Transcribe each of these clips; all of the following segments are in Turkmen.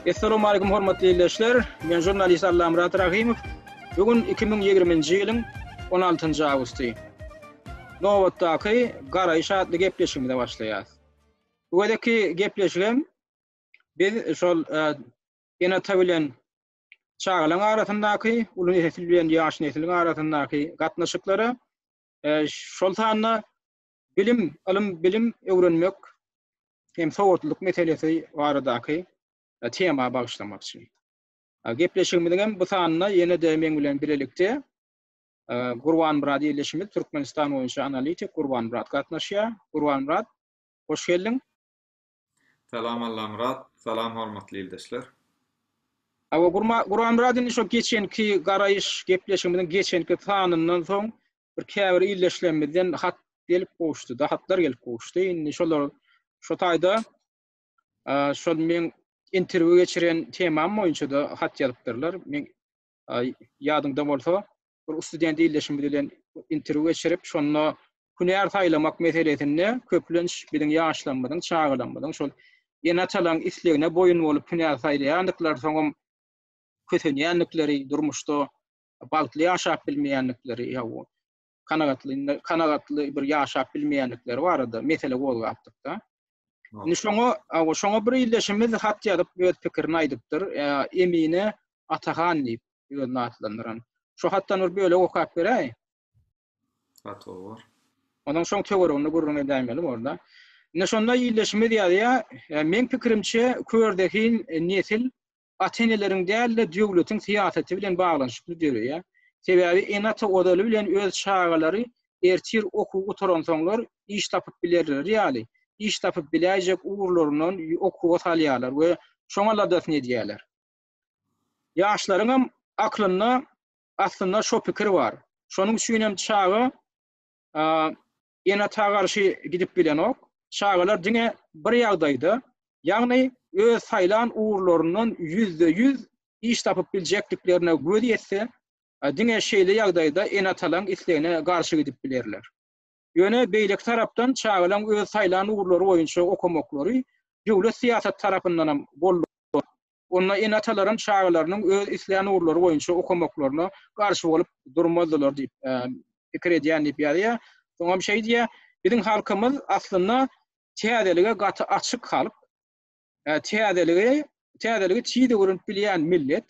Essalamualeýkum hormatly ildeşler! Men žurnalist Allamyrat Rahymow. Bu gün iki müň ýigriminji ýylyň on altynjy awgusty. Nobatdaky Garaýyş atly gepleşigimize başlaýarys. Bu gezekki gepleşigem biz şol ene-ata bilen çagalaryň arasyndaky, uly nesil bilen ýaş nesliň arasyndaky gatnaşyklara, şol sanda bilim, ylym-bilim öwrenmek hem sowatlylyk meselesi baradaky tema bagyşlamakçy. Gepleşigimiziň hem bu sanynda ýene-de meň bilen bilelikde Gurbanmyrat ildeşimiz, Türkmenistan boýunça analitik Gurbanmyrat gatnaşýar. Gurbanmyrat, hoş geldiň. Salam Allamyrat. Salam hormatly ildeşler. Hawa Gurma Guramyrat indi şo geçenki garaýyş gepleşigimiziň geçenki sanyndan soň bir käbir ildeşlerimizden hat gelip gowuşdy-da, hatlar gelip gowuşdy. Indi şolar şo taýda şol meň interwýu geçiren temam boýunça-da hat ýazypdyrlar. Men ýadyňda bolsa, bir student ildeşimiz bilen interwýu geçirip, şonda hünär saýlamak meselesinde köplenç biziň ýaşlarymyzyň, çagalarymyzyň şol ene-atalaryň islegine boýun bolup hünär saýlaýandyklary, soňam kösenýändikleri, durmuşda bagtly ýaşap bilmeýändikleri, kanagatlyny kanagatly bir ýaşap bilmeýändikleri barada mesele gozgapdyk-da. Indi şoňa, awa, şoňa bir ildeşimiz hat ýazyp öz pikirini aýdypdyr. Ä, Emine Atahan diýip özüni atlandyran. Şo hatdan bir bölek okap beräý. Hat owar. Onuň şoň töwereginde gürrüň edäýmeli bor-da. Indi şonda ildeşimiz ýazýar, Meň pikirimçe, körzehin nesil ata-eneleriň däl-de, döwletiň syýasaty bilen baglanyşykly döreýär. Sebäbi ene-ata ozaly bilen öz çagalary ertir okuw gutaransoňlar iş tapyp bilerleri ýaly, iş tapyp biläýjek ugurlaryndan okuwa salýarlar we şoňa ladasyny edýärler. Ýaşlaryňam aklynda aslynda şo pikir bar. Şonuň üçinem çaga ene-ata garşy gidip bilenok. Çagalar diňe bir ýagdaýda, ýagny öz saýlan ugurlaryndan ýüzde ýüz iş tapyp biljekdiklerine göz ýetse, diňe şeýle ýagdaýda ene-atalaryň islegine garşy gidip bilerler. Ýöne beýleki tarapdan çagalaryň öz saýlan ugurlary boýunça okamaklary döwlet syýasaty tarapyndanam goldanar. Onda ene-atalaram çagalarynyň öz islän ugurlary boýunça okamaklaryna garşy bolup durmazdylar diýip pikir edýän diýip ýazýar. Soňam şeý diýýär, Biziň halkymyz aslynda täzelige gaty açyk halk. Täzeligi, täzeligi tiz öwrenip bilýän millet.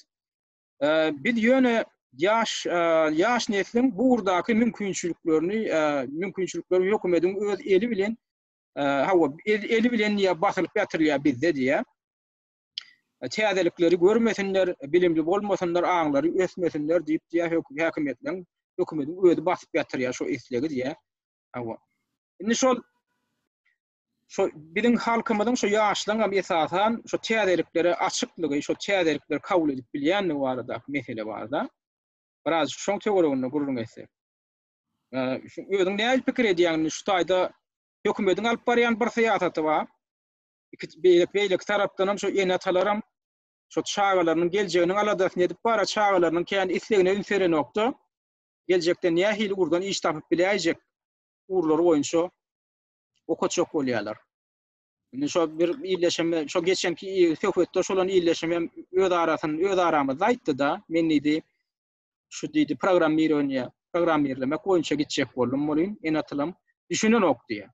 Biz ýöne ýaş, ýaş nesliň bu ugurdaky mümkinçiliklerini, mümkinçilikleri hökümediň öz eli bilen, hawa, eli bilen ýa basylyp ýatyrylar bizde diýýär. täzelikleri görmesinler, bilimli bolmasynlar, aňlary ösmesinler diýip diýýär höküm häkimiýetleň hökümetiň özi basyp ýatyrýar şo islegi diýýär. Hawa. Indi şol şo biziň halkymyzyň şo ýaşlaryň hem esasan şo täzeliklere açyklygy, şo täzelikleri kabul edip bilýändigi barada mesele barda. Biraz şoň töwereginde gürrüň etsek. Şu özüň näme pikir edýäň şu taýda hökümetiň alyp barýan bir syýasaty bar. iki beýleki tarapdanam şu ene-atalaram şu çagalarynyň geljeginiň aladasyny edip bara çagalarynyň kän islegine üns berenokda. Geljekde nähili ugurdan iş tapyp biläýjek ugurlary boýunça okatjak bolýarlar. Indi şo bir illeşim, şo geçenki söhbetde şolan illeşim hem öz arasyny, öz aramyzda aýtdy-da, men diýdi, şu diýdi, programmirowaniýe, programmirlemek boýunça gitjek boldum welin, ene-atalam düşünenok diýýär.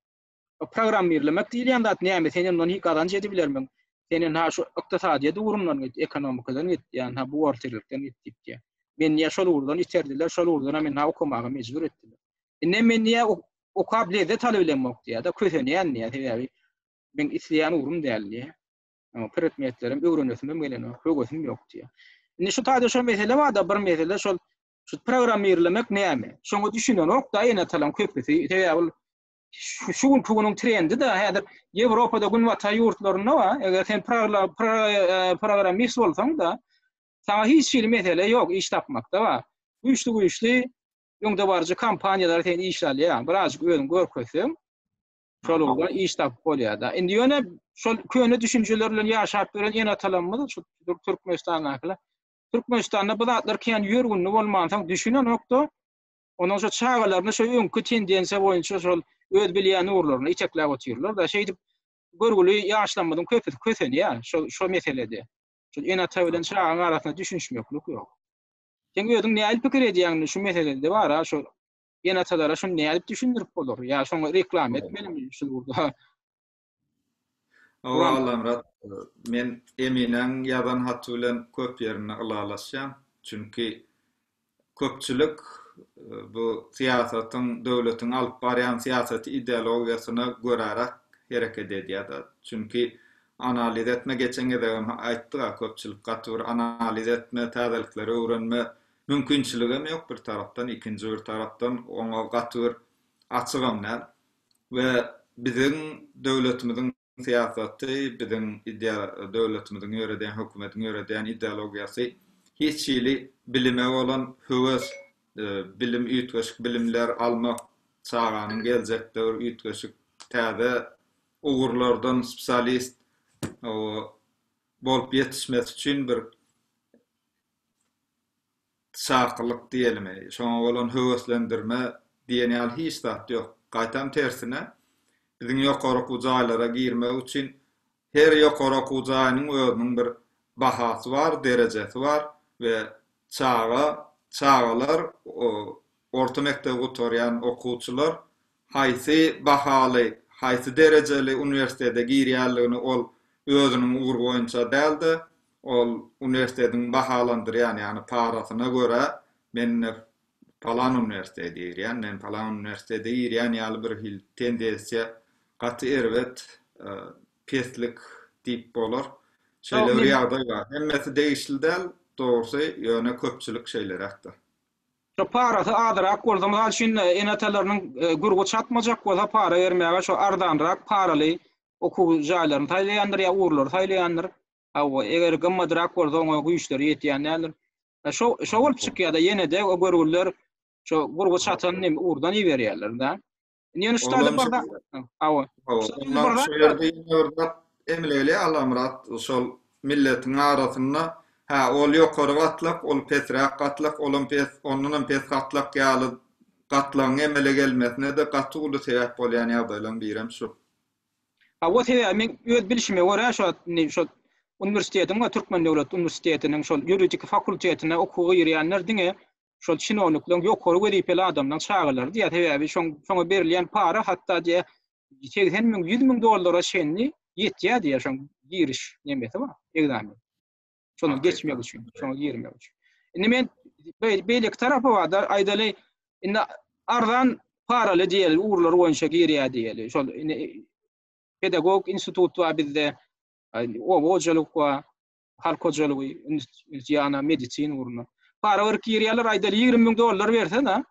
O programmirlemek diýilýän zat näme? Sen ondan hiç gazanç edip bilermiň? Sen indi ha şu ykdysadyýet ugrundan git, ekonomikadan git, ýa ha buhgalterlikden git diýip diýýär. Men niýe şol ugurdan iterdiler, şol ugurdan hem meni okamaga mejbur etdiler. Indi men niýe okap lezzet alyp bilemok diýýär-de, kösenýän diýýär, sebäbi men isleýän ugrym däl diýýär. Ama predmetlerim öwrenesim hem gelenok, höwesim ýok diýýär. Indi şu taýda şol mesele bar-da, bir mesele şol şu programmirlemek näme? Şoňa düşünenok-da ene-atalaryň köpüsi, sebäbi ol şu şu günki günüň trendi de häzir Ýewropada günbatar ýurtlarynda bar. Eger sen e, programmist bolsaň da, sana hiç hili mesele ýok iş tapmakda bar. Güýçli güýçli öňde baryjy kompaniýalar sen iş alýar. Birazjyk özüň görkezseň, şol ugurda iş tapyp bolýar da. Indi ýöne şol köne düşünjeler bilen ýaşap ýören ene atalarymyz şu Türkmenistandakylar. Türkmenistanda bu zatlar kän ýörgünli bolmansoň düşünenokda. Onuň şo çagalaryny şo öňki tendensiýa boýunça şol öz bilýän ugurlaryna itekläp otyrlar-da. Şeýdip, görgüli ýaşlarymyzyň köpüsi kösenýär şo şo meselede. Şol ene-ata bilen çagaň arasynda düşünişmeklik ýok. Seň özüň nädip pikir edýäňmi şu meselede bar-a şo ene-atalara şuny nädip düşündirip bolar ýa şoňa reklama etmelimi şul ugurda? Awa Allamyrat, men Eminäň ýazan haty bilen köp ýerinde ylalaşýan. Çünki köpçülik bu syýasatyň, döwletiň alyp barýan syýasaty ideologiýasyna göräräk hereket edýär-de. Çünki analiz etme, geçen gezegem aýtdyk-a, köpçülik gaty bir analiz etme, täzelikleri öwrenme mümkinçiligem ýok bir tarapdan, ikinji bir tarapdan oňa gaty bir açygam däl. we biziň döwletimiziň syýasaty, biziň döwletimiziň ýöredýän, hökümetiň ýöredýän ideologiýasy hiç hili bilime bolan höwes, bilim, üýtgeşik bilimler almak, çaganyň geljekde bir üýtgeşik täze ugurlardan spsialist bolup ýetişmesi üçin bir çakylyk diýelimi, şoňa bolan höweslendirme diýen ýaly hiç zat ýok. Gaýtam tersine, biziň ýokary okuw jaýlara girmek üçin her ýokary okuw jaýynyň özüniň bir bahasy bar, derejesi bar we çaga, çagalar, orta mekdebi gutarýan okuwçylar haýsy bahaly, haýsy derejeli uniwersitete girýänligini ol özüniň ugry boýunça däl-de, ol uniwersitetiň bahalandyrýan, ýagny parasyna görä, men ine palan uniwersitete girýän, men palan uniwersitete girýän ýaly bir hil tendensiýa gaty erbet peslik diýip bolar. Şeýle bir ýagdaý bar. Hemmesi degişli däl, dogrusy, ýöne köpçülik şeýleräk-de. Saparasy azyrak bolsa, mysal üçin, ene-atalarynyň gürgi çatmajak bolsa, para bermäge şo arzanrak paraly okuw jaýlaryny saýlaýandyr ýa ugurlary saýlaýandyr. Hawa, eger gymmatrak bolsa, oňa güýçleri ýetýän däldir. Şo, şo bolup çykýar-da, ýene-de o görgüliler şo gürgi çatan ugurdan iberýärler-dä. Indi ýöne şu taýda bir zat. Hawa. Şu ýerde ýene bir zat emleli Alamyrat şol milletiň arasynda hä ol ýokary gatlak, ol pesräk gatlak, olam pes, ondan hem pes gatlak ýaly gatlagyň emele gelmesine-de gaty uly sebäp bolýan ýagdaýlaryň biri hem şu. Hawa sebäbi men öz bilişime görä şo indi şo uniwersitetiň we Türkmen döwlet uniwersitetiniň şol ýuridik fakultetine okuwa girýänler diňe şol çinownikleň ýokary wezipeli adamlaryň çagalary diýýär, sebäbi şoň şoňa berilýän para hatda diýýär segsen müň, ýüz müň dollara çenli ýetýär diýýär şoň giriş nemesi bar, ekzamen. Şony geçmek üçin, şoňa girmek üçin. Indi men beýleki tarapy bar-da, aýdaly, indi arzan paraly diýeli ugurlar boýunça girýär diýeli. Şol indi pedagogik institut bar bizde, oba hojalyk bar. halk hojalygy, ýana medisina ugruna. Para berip girýärler, aýdaly 20 müň dollar bersen-ä,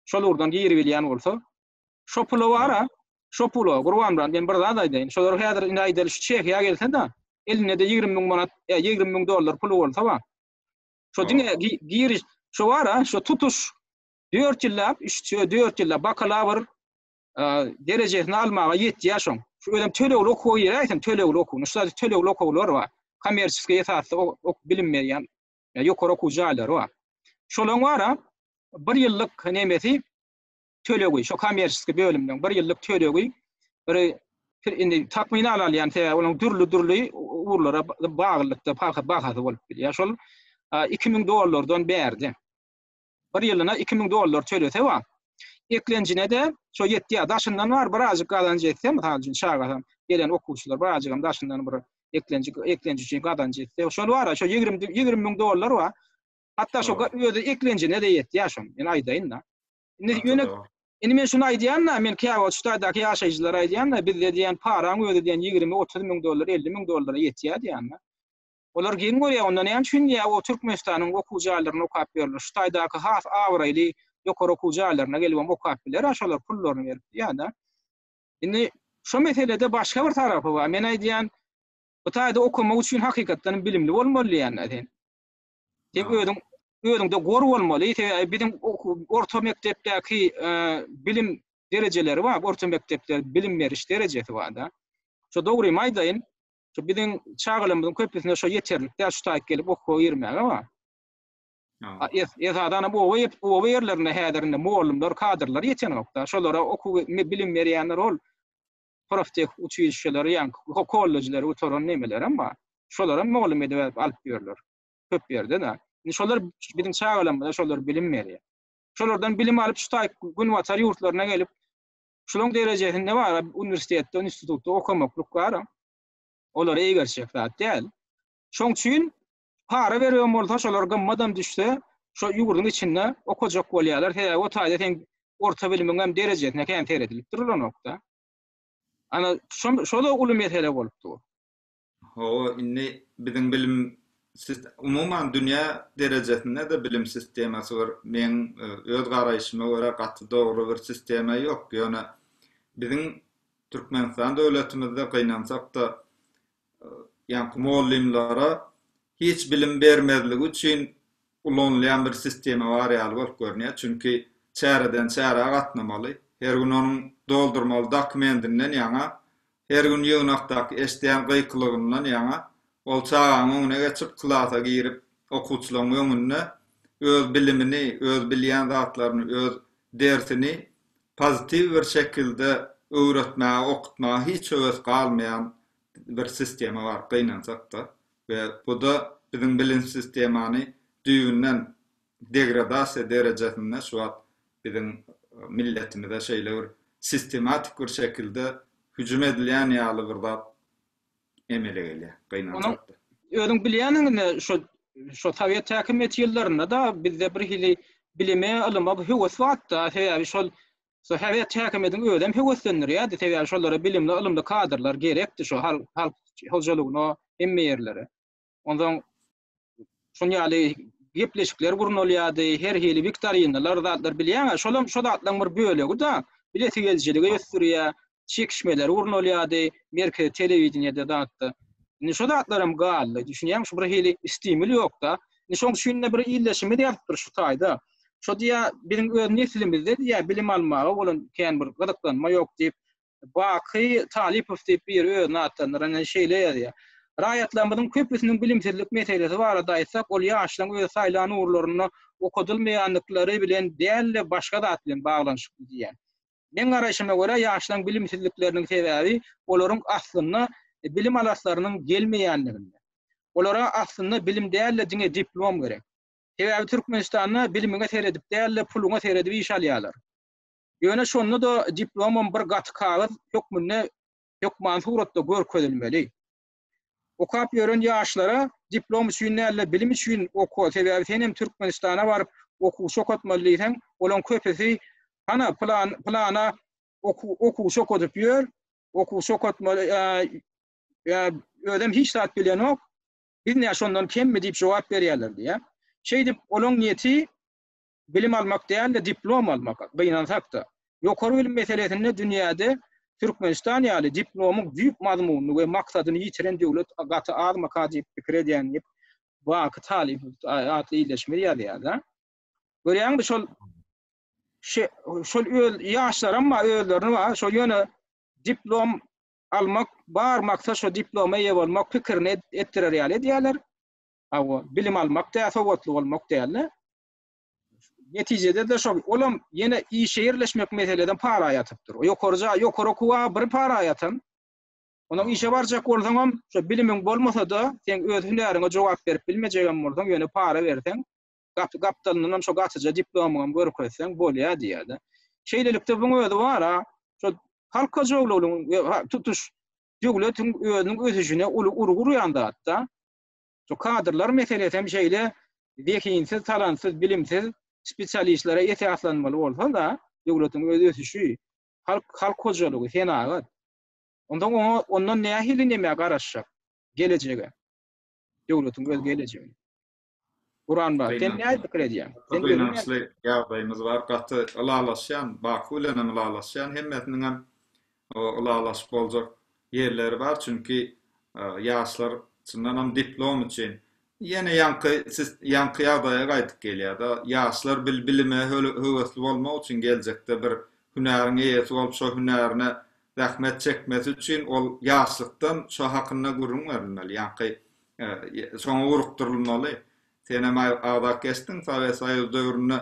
şol ugurdan giribilýän bolsa, şo pula bar-a, şo pula, Gurbanmyrat, men bir zat aýdaýyn, şolar häzir indi aýdaly şu Çehiýa gelse-de, elinde-de 20 müň manat, ýa 20 müň dollar puly bolsa bar. Şo diňe giriş, şo bar-a, şo tutuş 4 ýyllap, üç, dört ýyllap bakalawr, derejesini almaga ýetýär şoň. Şu özem tölegli okuwa giräýsin, tölegli okuw. Şu sady tölegli okuwlar bar. Kommersiýskiý esasda ok bilim berýän ýokary okuw jaýlary bar. Şolaryň bara bir ýyllyk nemesi tölegi, şo kommersiýskiý bölümden bir ýyllyk tölegi bir indi takmynan alýan sebäbi olaryň dürli-dürli ugurlara baglylykda bahasy bolup bilýär. Şol 2000 dollardan bärde. Bir ýylyna iki müň dollar tölese bar. Eklenjine-de şo ýetýär. Daşyndan bar birazjyk gazanç etse, mysal üçin, çagasam, gelen okuwçylar birazjygam daşyndan bir eklenji eklenji üçin gazanç etse, şol bar-a, şo ýigrimi ýigrimi müň dollar bar. Hatda şo özi eklenjine-de ýetýär şonuň, men aýdaýyn-da. Indi ýöne Indi men şuny aýdýan-da, men Käwagt ştaýdaky ýaşaýjylara aýdýan-da, bizde diýýän paraň özi diýýän ýigrimi, otuz müň dollar, elli müň dollara ýetýär diýýän-de. Olar geň görýär, onda näme üçin diýýär, o Türkmenistanyň okuw jaýlarynda okap ýörler. Şu taýdaky has abraýly ýokary okuw jaýlaryna gelibem okap biler-ä şolar pullaryny berip diýýär-dä. Indi şu meselede başga bir tarapy bar. Men aýdýan, bu taýda okamak üçin hakykatdan hem bilimli bolmaly diýýän-dä sen. Sen özüň özüňde gor bolmaly. Sebäbi biziň orta mekdepdäki bilim derejeleri bar. Orta mekdepde bilim beriş derejesi bar-da. Şo dogrymy aýdaýyn, Şu biziň çagalarymyzyň köpüsine şu ýeterlik däl, şu taýyk gelip okuwa girmäge wa. Ha, es, esadan hem oba ýetip, oba ýerlerinde häzir indi mugallymlar, kadrlar ýetenokda. Şolara okuw, me, bilim berýänler ol proftek uçilişeleri, ýa ho, kollejleri gutaran nemeler hem bar. Şolar hem mugallym edip alyp, alyp ýörler. Köp ýerde-de. Indi şolar biziň çagalarymyza şolar bilim berýär. Şolardan bilim alyp, şu taýyk günbatar ýurtlaryna gelip, Şularyň derejesinde bar, uniwersitetde, institutda okamaklyk bar. Olar eýgerçek zat däl. Şoň üçin para berýän bolsa, şolar gymmadam düşse, şo ýurduň içinde okajak bolýarlar. Sebäbi o taýda seň orta bilimiň hem derejesine kän seredilip durlanokda. Ana, şo-da uly mesele bolup dur. Hawa, indi biziň bilim sis, umuman dünýä derejesinde-de bilim sistemasy bir meň öz garaýşyma görä gaty dogry bir sistema ýok. Ýöne biziň Türkmenistan döwletimizde gynansak-da, ýaňky mugallymlara hiç bilim bermezligi üçin ulanylýan bir sistema bar ýaly bolup görünýär, çünki çäreden çärä gatnamaly, her gün onuň doldurmaly dokumendinden ýaňa, her gün ýygnakdaky eşidýän gykylygyndan ýaňa, ol çagaň öňüne geçip, klasa girip, okuwçylaryň öňünde öz bilimini, öz bilýän zatlaryny, öz dersini pozitiw bir şekilde öwretmäge, okutmaga hiç höwes galmaýan bir sistema bar, gynansak-da. we bu-da biziň bilim sistemany düýbünden degradasiýa derejesinde şu wagt biziň milletimize şeýle bir sistematik bir şekilde hüjüm edilýän ýaly bir zat emele gelýär, gynançakda. Özüň bilýäniňi şo şo sowet häkimiýeti ýyllarynda-da bizde bir hili bilime, ylyma höwes batda, sebäbi şol Şo Häzirki häkimiýetiň özem höweslendirýärdi, sebäbi şolara bilimli, ylymly kadrlar gerekdi şo halk hojalygyna, hemme ýerlere. Onsoň şuny ýaly gepleşikler gurnalýardy, her hili wiktorinalar, zatlar bilýäňä, şolam şo zatlaryň bir bölegi-da, bilesigelijiligi ösdürýär, çekişmeler gurnalýardy, merkezi telewideniýede zatda. Indi şu zatlar hem galdy. Düşünýäňmi, şu bir hili stimul ýokda. Indi şoň üçin-de bir ildeşimiz ýazypdyr şu taýda. Şo diýýä, biziň öz neslimizde diýýä, bilim almaga bolan kän bir gyzyklanma ýok diýip, Baky Talypow diýip biri özüni atlandyran ýa şeýle ýazýar. Raýatlarymyzyň köpüsiniň bilimsizlik meselesi barada aýtsak, ol ýaşlaryň öz saýlan ugurlarynda okadylmaýandyklary bilen däl-de, başga zat bilen baglanyşykly diýýär. Meň garaýşyma görä, ýaşlaryň bilimsizlikleriniň sebäbi olaryň aslynda bilim alaslarynyň gelmeýänliginde. Olara aslynda bilim däl-de diňe diplom gerek. Sebäbi Türkmenistanda bilimiňe seredip däl-de puluňa seredip iş alýarlar. Ýöne şonda-da diplomam bir gaty kagyz hökmünde hökmany suratda görkezilmeli. Okap ýören ýaşlara diplom üçin däl-de bilim üçin oka, sebäbi sen hem Türkmenistana baryp okuwçy okatmaly diýseň, olaň köpüsi hana pylan pylana okuwçy okadyp ýör, okuwçy okatmaly özem hiç zat bilenok, biz nä şondan kemmi diýip jogap berýärler diýýär. Şeýdip olaň niýeti bilim almak däl-de diplom almak, gynansak-da. Ýokary bilim meselesinde dünýäde Türkmenistan ýaly diplomyň düýp mazmunyny we maksadyny ýitiren döwlet gaty azmyka diýip pikir edýän diýip, Baky Talypow atly ildeşimiz ýazýar-da. Görýäňmi şol şe şol öz ýaşlaram bar özlerini bar şo ýöne diplom almak bar maksat şo diploma eýe bolmak pikirini etdirer ýaly edýärler. Hawa, bilim almak däl, sowatly bolmak däl-de. Netijede-de şol, olam ýene işe ýerleşmek meseleden para ýatypdyr. Ýokary jaý, ýokary okuwa bir para ýatan, onsoň işe barjak bolsaňam, şo bilimiň bolmasa-da, seň öz hünäriňe jogap berip bilmejegem bolsaň, ýöne para berseň, gapy gapdalyndanam şo gatyja diplomyňam görkezseň bolýar diýýär-de. Şeýlelikde, buň özi bar-a, şo halk hojalygynyň we tutuş döwletiň özüniň ösüşine uly urgy urýan zat-da. Şu kadrlar meselesi hem şeýle zehinsiz, talantsyz, bilimsiz spesialistlere esaslanmaly bolsa-da, döwletiň öz ösüşi, halk, halk hojalygy, senagat. Onda oňa, ondan nähili nämä garaşjak gelejege? Döwletiň öz gelejegi. Guran bar. Sen nädip pikir edýäň? Sen gynançly ýagdaýymyz bar. Gaty ylalaşýan, Baku bilen hem ylalaşýan. Hemmesiniň hem ylalaşyp boljak ýerleri bar. Çünki ýaşlar çyndan hem diplom üçin ýene ýaňky ýaňky ýagdaýa gaýdyp gelýär-de. Ýaşlar bilime höwesli bolmak üçin geljekde bir hünäriň eýesi bolup şo hünärine zähmet çekmesi üçin ol ýaşlykdan şo hakynda gürrüň berilmeli. Ýaňky Soňy urukdyrylmaly. Senem agzak geçdiň, Sowet Soýuzy döwründe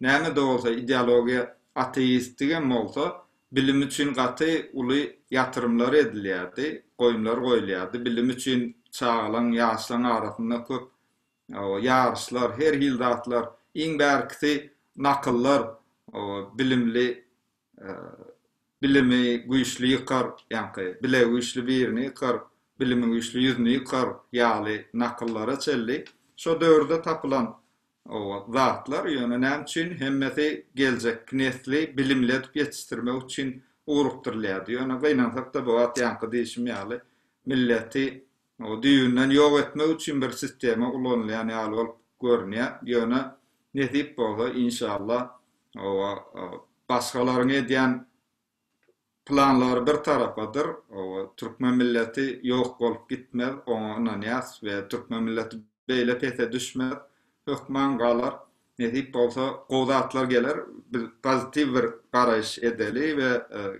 näme-de bolsa ideologiýa ateistdigem bolsa, bilim üçin gaty uly ýatyrymlar edilýärdi, goýumlar goýulýardy. Bilim üçin çagalaň, ýaşlaň arasynda köp ýaryşlar, her hil zatlar, iň bärkisi nakyllar, bilimli Bilimi güýçli ýykar, ýaňky, Bile güýçli birini ýykar, Bilimi güýçli ýüzüni ýykar ýaly nakyllara çenli şo döwürde tapylan zatlar, ýöne näme üçin hemmesi geljekki nesli bilimli edip ýetişdirmek üçin ugrukdyrylýardy. Ýöne gynansak-da bu wagt ýaňky diýşim ýaly milleti Ony düýbünden ýok etmek üçin bir sistema ulanylýan ýaly bolup görünýär. Ýöne nesip bolsa, inşalla, oba, başgalaryň edýän planlary bir tarapadyr, oba, türkmen milleti ýok bolup gitmez, oňa ynanýas we türkmen milleti beýle pese düşmez, hökman galar. Nesip bolsa, gowy zatlar geler. Biz pozitiw bir garaýyş edeli we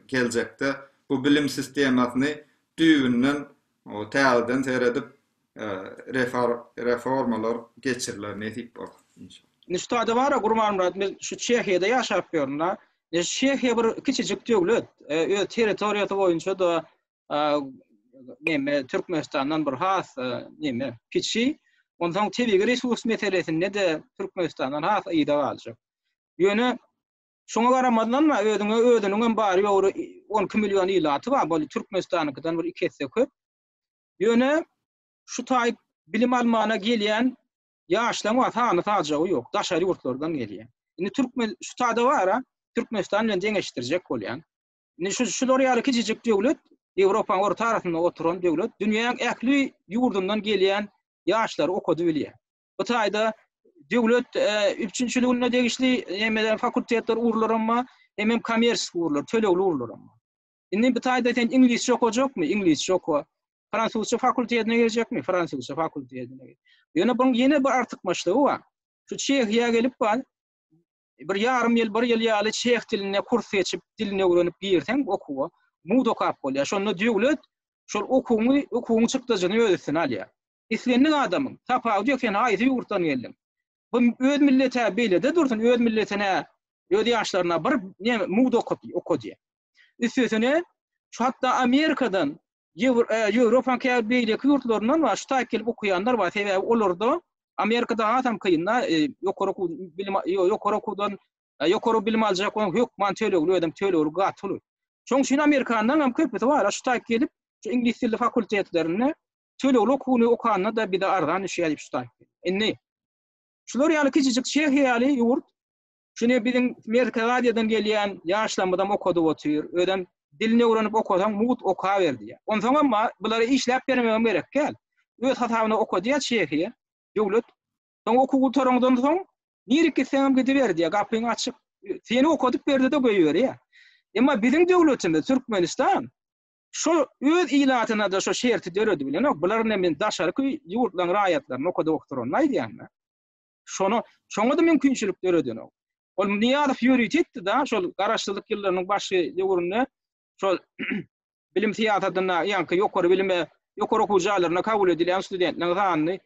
geljekde bu bilim sistemasyny düýbünden Oňa täzeden seredip, reformalar geçiriler nesip bolsa, inşallah. Nüştada bara Gurbanmyrat men şu Çehiýada ýaşap ýörün da. Çehiýa bir kiçijik döwlet. Öz territoriýasy boýunça da neme Türkmenistandan bir has neme kiçi. Onsoň tebigy resurs meselesinde de Türkmenistandan has yza galjak. Ýöne Şoňa garamazdan-da, özüňe özüniňem bary-ýogy on iki million ilaty bar, bu Türkmenistanyňkydan bir iki esse köp. Ýöne şu taý bilim almana gelýän ýaşlaryň bar, sany-sajagy ýok, daşary ýurtlardan gelýär. Indi türkmen şu taýda bar-a, Türkmenistan bilen deňeşdirjek bolýan. Indi şu şular ýaly kiçijik döwlet, Ýewropanyň orta arasynda oturan döwlet, dünýäň ähli ýurdundan gelýän ýaşlary okady bilýär. Bu taýda döwlet üpjünçiligine degişli hemmeler fakultetler urlar amma hemem kommersiýa urlar, tölegli urlar amma. Indi bu taýda sen iňlisçe okajakmy? Iňlisçe oka. Fransuzça fakultetine girjekmi? Fransuzça fakultetine gir. Ýöne bu ýene bir artykmaçlygy bar. Şu Çehiýa gelip bar, bir ýarym ýyl, bir ýyl ýaly çeh dilinde kurs geçip, dilini öwrenip girseň okuwa, mud okap bolýar. Şonda döwlet şol okuwyňy, okuwyň çykdajyny öz üstüne alýar. Islendik adamyň tapawudy ýok, sen haýsy ýurtdan geldiň? Bu öz milleti-ä beýlede dursun, öz milletine, öz ýaşlaryna bir ne mugt okady, okady. Üstesine, şu hatda Amerikadan, Ýewropanyň käbir beýleki ýurtlaryndan bar, şu taýyp gelip okaýanlar bar, sebäbi olarda Amerikada hasam kyn-da, ýokary okuw, bilim, ýokary okuwdan, ýokary bilim aljak bolan hökman tölegli, özem tölegli gaty uly. Şonuň üçin amerikanlaryň hem köpüsi bar-a, şu taýyp gelip, şu iňlis dilli fakultetlerinde tölegli okuwyny okanda-da bize arzan düşýär diýip şu taýyp geldi. Indi, şular ýaly kiçijik Çehiýa ýaly ýurt, şuny biziň Merkezi Aziýadan gelýän ýaşlarymyzam okadyp otyr, özem dilini öwrenip okasaň mugt okaber diýýär. Onsoňam ma, bulara işläp bermegem gerek däl. Öz hasabyna okadýar Çehiýa döwlet. Soň okuw gutaraňdan soň, nirek gitseňem gidiber diýýär, gapyň açyk. Seni okadyp berdi-de goýberýär. Emma biziň döwletimiz, Türkmenistan, Şo öz ilatyna-da şo şerti döredi bilenok. Bular indi men daşarky ýurtlaryň raýatlaryny okadip oturanyny aýdýan-da. Şony, şoňa-da mümkinçilik döredenok. Ol Nyýazow ýörite etdi-de, şol garaşsyzlyk ýyllarynyň başy döwründe şol bilim syýasatynda ýaňky ýokary bilime, ýokary okuw jaýlaryna kabul edilýän studentleriň sanyny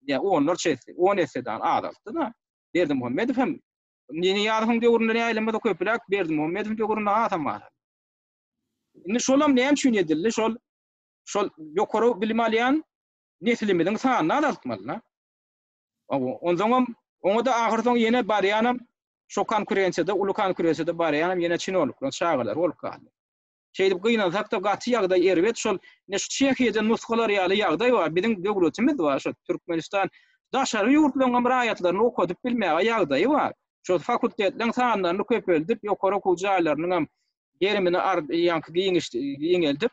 ýa onlarça esse, on essedan azaltdy-da. Berdimuhamedow hem Nyýazowyň döwründe näýlem bolsa köpräk, Berdimuhamedowyň döwründe azam azaldy. Indi şolam näme üçin edildi? Şol şol ýokary bilim alýan neslimiziň sanyny azaltmaly. Onsoňam oňa-da ahyrsoň ýene barýanam şo konkurensiýada, uly konkurensiýada barýanam ýene çinownikleriň çagalary bolup galdy. Şeýdip gynansak-da gaty ýagdaý erbet. Şol ine şu Çehiýadan nusgalar ýaly ýagdaý bar. Biziň döwletimiz bar, şo Türkmenistan daşary ýurtlaryňam raýatlaryny okadyp bilmäge ýagdaýy bar. Şo fakultetleriň sanlaryny köpeldip, ýokary okuw jaýlarynyňam gerimini arz ýaňky giňiş giňeldip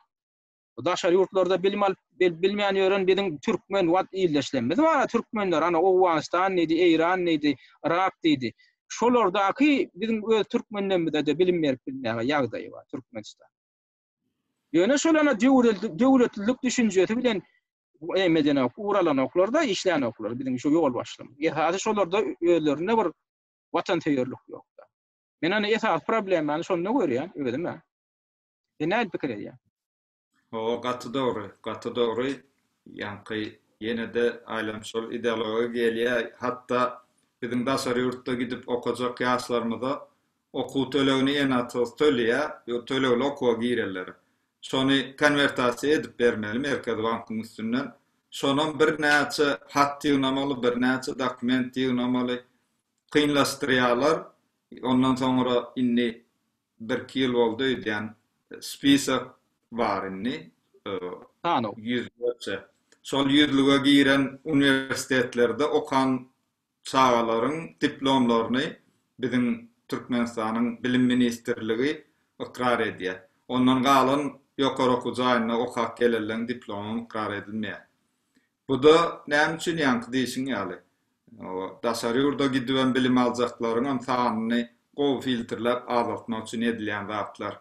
daşary ýurtlarda bilim alyp bilmeýän ýören biziň türkmen wat ildeşlerimiz bar türkmenler ana Owganystan diýdi Eýran diýdi Yrak diýdi şolardaky biziň öz türkmenlerimize de bilim berip bilmäge ýagdaýy bar Türkmenistan ýöne şolana döwletlilik düşünjesi bilen emedene uralan oklarda işlän oklar biziň şu ýol başlym ýa-da şolarda özlerinde bir watansöýerlik ýok Men ony esasy problemany şonda görýän özüm-ä. Sen nädip pikir edýäň? Hawa, gaty dogry, gaty dogry. Ýaňky ýene-de aýlam şol ideologiýa gelýär. Hatda biziň daşary ýurtda gidip okajak ýaşlarymyza okuw tölegini enatsyz tölýär, ýöne tölegli okuwa girerlere. Şony konwertasiýa edip bermeli Merkezi bankyň üstünden. Şonam birnäçe hat ýygnamaly, birnäçe dokument ýygnamaly. kynlaşdyrýarlar. Ondan soňra indi birki ýyl boldy öýdýän spisak bar indi. Sanaw. Ýüzlerçe. Şol ýüzlüge giren uniwersitetlerde okan çagalaryň diplomlaryny biziň Türkmenistanyň Bilim ministrligi ykrar edýär. Ondan galan ýokary okuw jaýynda okap gelenleň diplomy ykrar edilmeýär. Bu-da näme üçin ýaňky diýşiň ýaly, daşary ýurda gidibem bilim aljaklaryňam sanyny gowy filtrläp azaltmak üçin edilýän zatlar.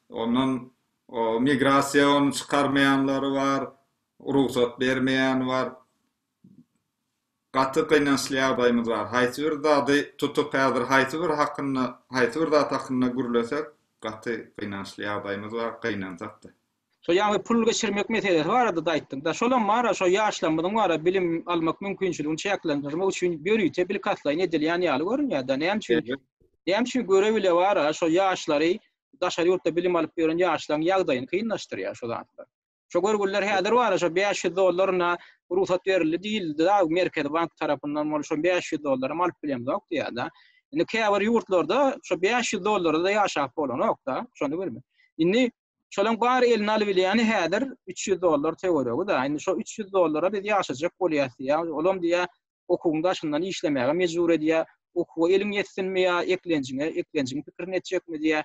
Ondan migrasiýa ony çykarmaýanlary bar, rugsat bermeýäni bar. Gaty gynançly ýagdaýymyz bar. Haýsy bir zady tutup häzir haýsy bir hakynda, haýsy bir zat hakynda gürlesek, gaty gynançly ýagdaýymyz bar, gynansak-da. Şo ýaňy pul geçirmek meselesi barada-da aýtdyň-da. Şolam bar-a, şo ýaşlarymyzyň bar-a bilim almak mümkinçiligini çäklendirmek üçin ýörite bilkastlaýyn edilýän ýaly görünýär-de. Näme üçin? Näme üçin göre bile bar-a, şo ýaşlary, daşary ýurtda bilim alyp ýören ýaşlaryň ýagdaýyny kynlaşdyrýar şo zatlar. Şo görgüliler häzir bar, şo 500 dollaryna rugsat berildi diýildi da, Merkezi bank tarapyndan bolup, şo 500 dollara hem alyp bilemzok diýýärdi. Indi käbir ýurtlarda şo 500 dollara da ýaşap bolanok-da, şony bilme. Indi şolaryň bary eline alyp bilýäni häzir 300 dollar töweregi-de. Indi şo 300 dollara biz ýaşajak bolýas diýýär. Olam diýýär, okuwyň daşyndan işlemäge mejbur edýär. Okuwa eliň ýetsinmi ýa eklenjiňe, eklenjiň pikirini etjekmi diýýär.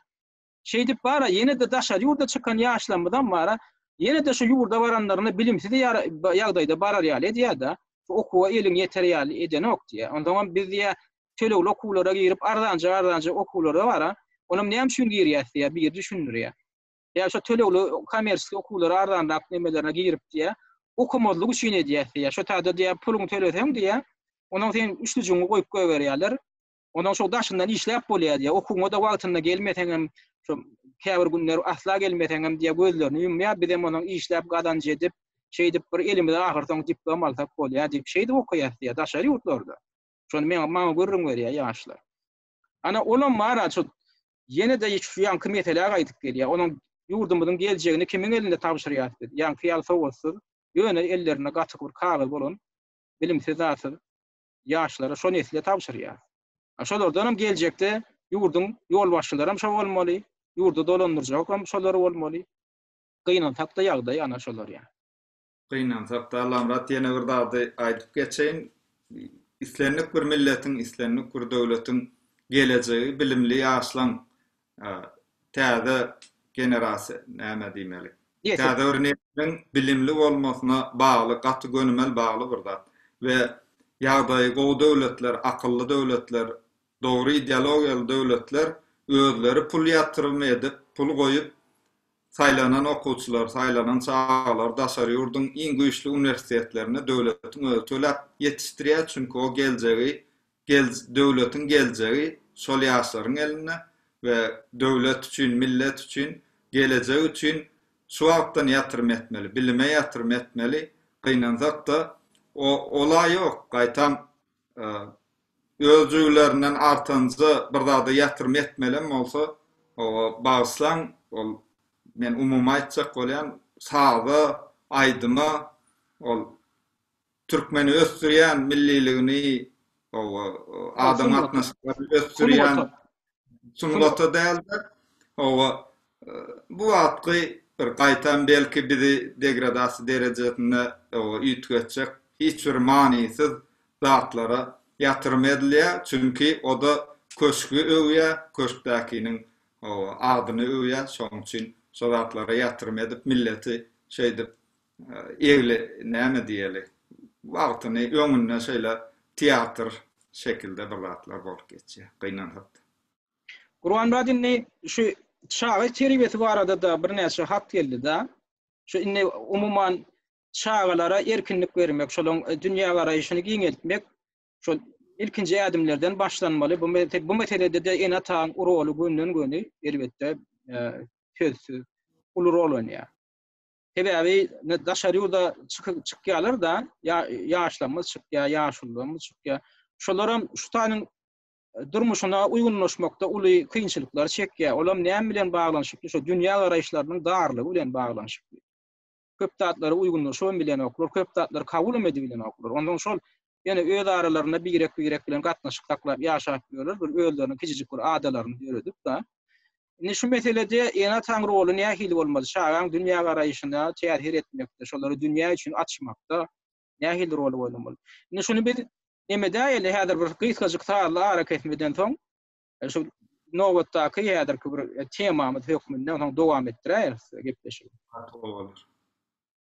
Şeýdip bar-a, ýene-de daşary ýurda çykan ýaşlarymyzam bar-a, ýene-de şu ýurda baranlarynda bilimsiz ýagdaýda barar ýaly edýär-de, şu okuwa eliň ýeter ýaly edenok diýýär. Onsoňam biz diýýär, tölegli okuwlara girip, arzanjyk-arzanjyk okuwlara bar-a, onam näme üçin girýäs diýýär, biri düşündirýär. Ýa şo tölegli kommersiýa okuwlara arzanrak nemelerine girip diýýär, okamazlyk üçin edýäs diýýär. Şo taýda diýýär, puluňy töleseň diýýär, onsoň seniň üçlüjigiňi goýup goýberýärler, Ondan şo daşyndan işläp bolýar diýýär. Okuwyňa-da wagtynda gelmeseňem, şo käbir günler asla gelmeseňem diýýär, gözlerini ýumýar, biz hem onuň işläp gazanç edip, şeýdip bir elimize ahyrsoňy diplom alsak bolýar diýip, şeýdip okaýas diýýär daşary ýurtlarda. Şony meň maňa gürrüň berýär ýaşlar. Ana, olam bar-a şu ýene-de şu ýaňky meselä gaýdyp gelýär. Onuň ýurdumyzyň geljegini kimiň elinde tabşyrýas biz? Ýaňky ýaly sowatsyz, ýöne ellerinde gaty bir kagyz bolan bilimsiz zatsyz ýaşlara, şo nesle tabşyrýar. Şolardan hem geljekde ýurduň ýolbaşçylary hem şo bolmaly, ýurdy dolandyrjak hem şolar bolmaly. Gynansak-da ýagdaý ana şolar ýa. Gynansak-da, Allamyrat ýene bir zady aýdyp geçeýin. Islendik bir milletiň, islendik bir döwletiň gelejegi bilimli ýaşlaň Täze generasiýa näme diýmeli? Täze bir nesliň bilimli bolmasyna bagly, gaty gönümel bagly bir zat we ýagdaýy gowy döwletler, akylly döwletler, dogry ideologiýaly döwletler özleri pul ýatyrymy edip, pul goýup saýlanan okuwçylary, saýlanan çagalary daşary ýurduň iň güýçli uniwersitetlerinde döwletiň özi töläp ýetişdirýär, çünki o geljegi Döwletiň geljegi şol ýaşlaryň elinde we döwlet üçin, millet üçin, gelejek üçin şu wagtdan ýatyrym etmeli, bilime ýatyrym etmeli, gynansak-da, o-ola ýok, gaýtam, öz jübülerinden artanja bir zada ýatyrym etmelem bolsa, o-o, bagyşlaň, ol, men umumy aýtjak bolýan, saza, aýdyma, ol, Türkmeni ösdürýän milliligini hawa adam gatnaşyklary ösdürýän sungaty dälde hawa bu wagtky bir gaýtam belki bizi degradasiýa derejesinde hawa üýtgetjek hiç bir manysyz zatlara ýatyrym edilýär çünki oda köşgi öwýär köşkdäkiniň hawa adyny öwýär şoň üçin şo zatlara ýatyrym edip milleti şeýdip Egli näme diýeli, wagtyny öňünde şeýle teatr şekilde bir zatlar bolup geçýär, gynansak-da. Gurbanmyrat indi şu çaga terbiýesi barada-da birnäçe hat geldi-de. Şu indi umuman çagalara erkinlik bermek, şolaryň dünýägaraýşyny giňeltmek şol ilkinji ädimlerden başlanmaly. Bu bu meselede-de ene-ataň roly günden-güni elbetde sözsüz uly rol oýnaýar. Sebäbi daşary ýurda çykyp çykýarlar da, ýaşlarymyz çykýar, ýaşulularymyz çykýar. Şolaram şu taýynyň durmuşyna uýgunlaşmakda uly kynçylyklar çekýär. Olam näme bilen baglanyşykly? Şo dünýä garaýyşlarynyň darlygy bilen baglanyşykly. Köp zatlara uýgunlaşybam bilenoklar, köp zatlary kabul hem edibilenoklar. Onsoň şol ýöne öz aralarynda birek-birek bilen gatnaşyk saklap ýaşap ýörler, bir özleriniň kiçijik bir adalaryny döredip da. Indi şu meselede ene-ataň roly nähili bolmaly? Çagaň dünýägaraýşyna täsir etmekde, şolary dünýä üçin açmakda nähili roly oýnamaly? Indi şuny biz nemedäýeli, häzir bir gysgajyk sazly arakesmeden soň, şu nobatdaky häzirki bir temamyz hökmünde soň dowam etdiräýeris gepleşigi. Gaty gowy bolar.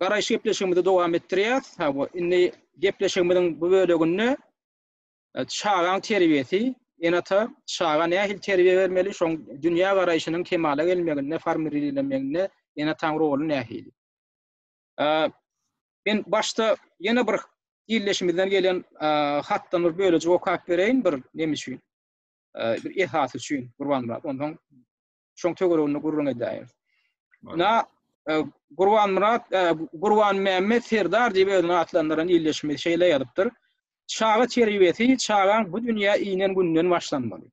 Garaýyş gepleşigimizi dowam etdirýäs. Ha bu indi gepleşigimiziň bu böleginde e, çagaň terbiýesi, ene-ata çaga nähili terbiýe bermeli, şoň dünýä garaýşynyň kemala gelmeginde, formirlenmeginde ene-ataň roly nähili? E, men başda ýene bir ildeşimizden gelen e, hatdan bir bölejik okap bereýin bir neme üçin? E, bir esas üçin Gurbanmyrat. Ondan şoň töwereginde gürrüň edäýeris. Na e, Gurban Murat, e, Gurban Mämmet Serdar diýip özüni atlandyran ildeşimiz şeýle ýazypdyr. Çaga terbiýesi çagaň bu dünýä inen günden başlanmaly.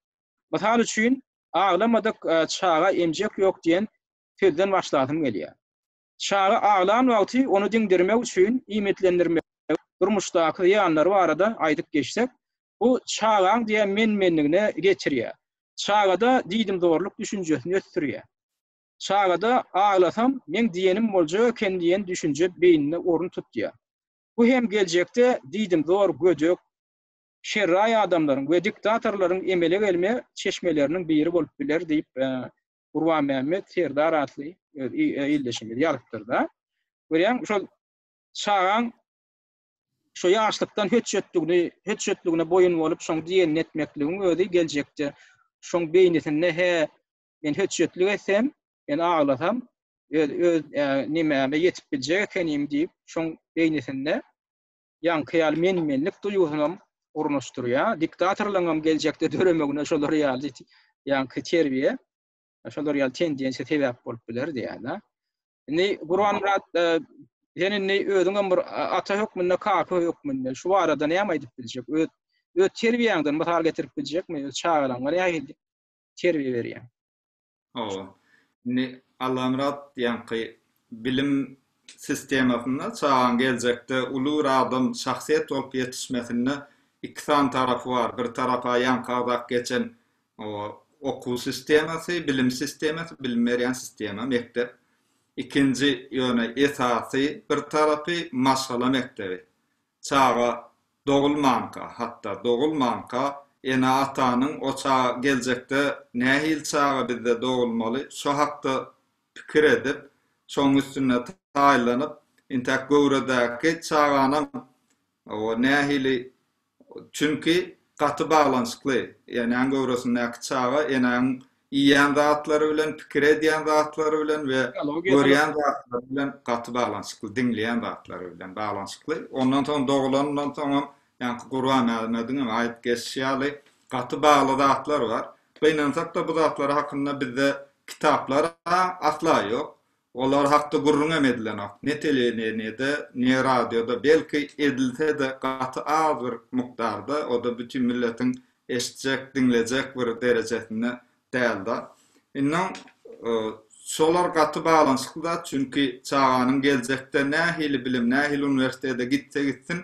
Mysal üçin, aglamadyk e, çaga emjek ýok diýen sözden başlasym gelýär. Çaga aglan wagty ony diňdirmek üçin iýmitlendirmek, durmuşdaky zyýanlary barada aýdyp geçsek, Bu çagaň diýen men-menligini geçirýär. Çagada diýdimzorluk düşünjesini ösdürýär. Çagada aglasam, meň diýenim boljak eken diýen düşünje beýninde orun tutýar. Bu hem geljekde diýdimzor, gödek, şerraý adamlaryň we diktatorlaryň emele gelme çeşmeleriniň biri bolup biler diýip, Gurbanmämmet Serdar atly öz ildeşimiz ýazypdyr-da. Görýäňmi, şol çagaň Şo ýaşlykdan hötjetdigini, hötjetdigine boýun bolup, şoň diýenini etmekligiň özi geljekde şoň beýnisinde hä, men hötjetlik etsem, men aglasam, öz öz nimäme ýetip biljek ekenim diýip, şoň beýnisinde ýaňky ýaly men-menlik duýgusynam ornaşdyrýar. Diktatorlaryňam geljekde döremegine şolar ýaly ýaňky terbiýe, şolar ýaly tendensiýa sebäp bolup biler diýýär-de. Indi Gurbanmyrat sen indi özüňem bir ata hökmünde, kaka hökmünde şu barada näme aýdyp biljek? Öz öz terbiýäňden mysal getirip biljekmi? Öz çagalaryňa nähili terbiýe berýäň? Hawa. Indi Allamyrat ýaňky bilim sistemasynda çagaň geljekde uly bir adam, şahsyýet bolup ýetişmesinde iki sany tarapy bar. Bir tarapa ýaňky agzak geçen Okuw sistemasy, bilim sistemasy, bilim berýän sistema, mekdep. Ikinji, ýöne esasy bir tarapy maşgala mekdebi. Çaga dogulmanka, hatda dogulmanka ene-atanyň o çaga geljekde nähili çaga bizde dogulmaly, şo hakda pikir edip, şoň üstünde taýynlanyp, intäk göwredäki çaganam nähili Çünki gaty baglanyşykly. Enäň göwresindäki çaga enäň iýýän zatlary bilen, pikir edýän zatlary bilen we görýän zatlary bilen gaty baglanyşykly, diňleýän zatlary bilen baglanyşykly. Ondan soň dogulanyndan soňam, ýaňky Gurbanmämmediň hem aýdyp geçişi ýaly, gaty bagly zatlar bar. Gynansak-da bu zatlar hakynda bizde kitaplar-a asla ýok. Olar hakda gürrüňem edilenok. Ne telewideniýede, ne radioda, belki, edilse-de, gaty az bir mukdarda, o-da bütin milletiň eşitjek, diňlejek bir derejesinde däldi. Indi şolar gaty baglanyşykly zat, çünki çaganyň geljekde nähili bilim, nähili uniwersitete gitse gitsin,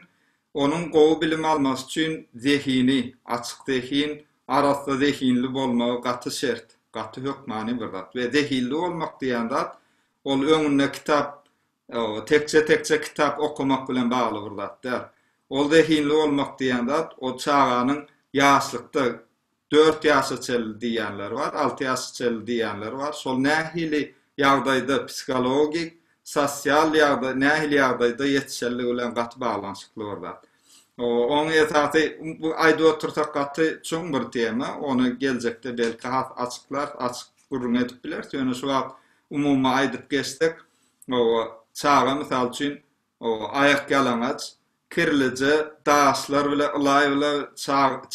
onuň gowy bilim almasy üçin zehini, açyk zehin, Arassa zehinli bolmagy gaty şert, gaty hökmany bir zat we zehinli bolmak diýen zat ol öňünde kitap tekje tekje kitap okamak bilen bagly bir zat däl. Ol zehinli bolmak diýen zat ol çaganyň ýaşlykda dört ýaşa çenli diýenler bar, alty ýaşa çenli diýenler bar. Şol nähili ýagdaýda psihologik, sosial ýagdaý, nähili ýagdaýda ýetişenligi bilen gaty baglanyşykly bir zat. Oň esasy bu aýdyp otursak gaty çuň bir tema, ony geljekde belki has açyklarys, açyk gürrüň edip bileris, ýöne şu wagt umumy aýdyp geçsek, çaga mysal üçin aýak ýalaňaç, kirlije daşlar bilen ylaýyla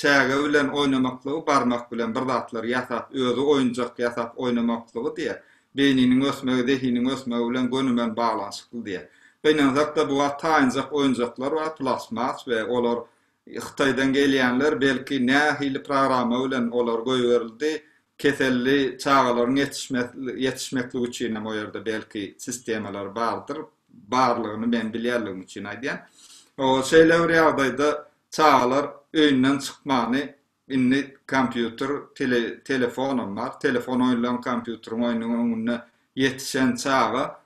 çäge bilen oýnamaklygy, barmak bilen bir zatlar ýasap, özi oýunjak ýasap oýnamaklygy diýýär. Beýniniň ösmegi zehiniň ösmegi bilen gönümel baglanyşykly diýýär. Gynansak-da bu wagt taýynjak oýunjaklar bar, plastmas we olar Hytaýdan gelýänler, belki nähili programma bilen olar goýberildi, keselli çagalaryň ýetişmesligi üçinem o ýerde belki sistemalary bardyr, barlygyny men bilýänligim üçin aýdýan. Şeýle bir ýagdaýda çagalar öýünden çykmany Indi kompýuter, telefonam bar. Telefon oýnlan kompýuteriň oýnuň öňünde ýetişen çaga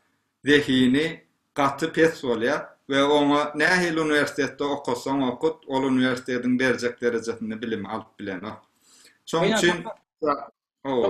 zehini gaty pes bolýar we oňa nähili uniwersitetde okasaň okut, ol uniwersitetiň berjek derejesinde bilimi alyp bilenok. Şoň üçin Hawa.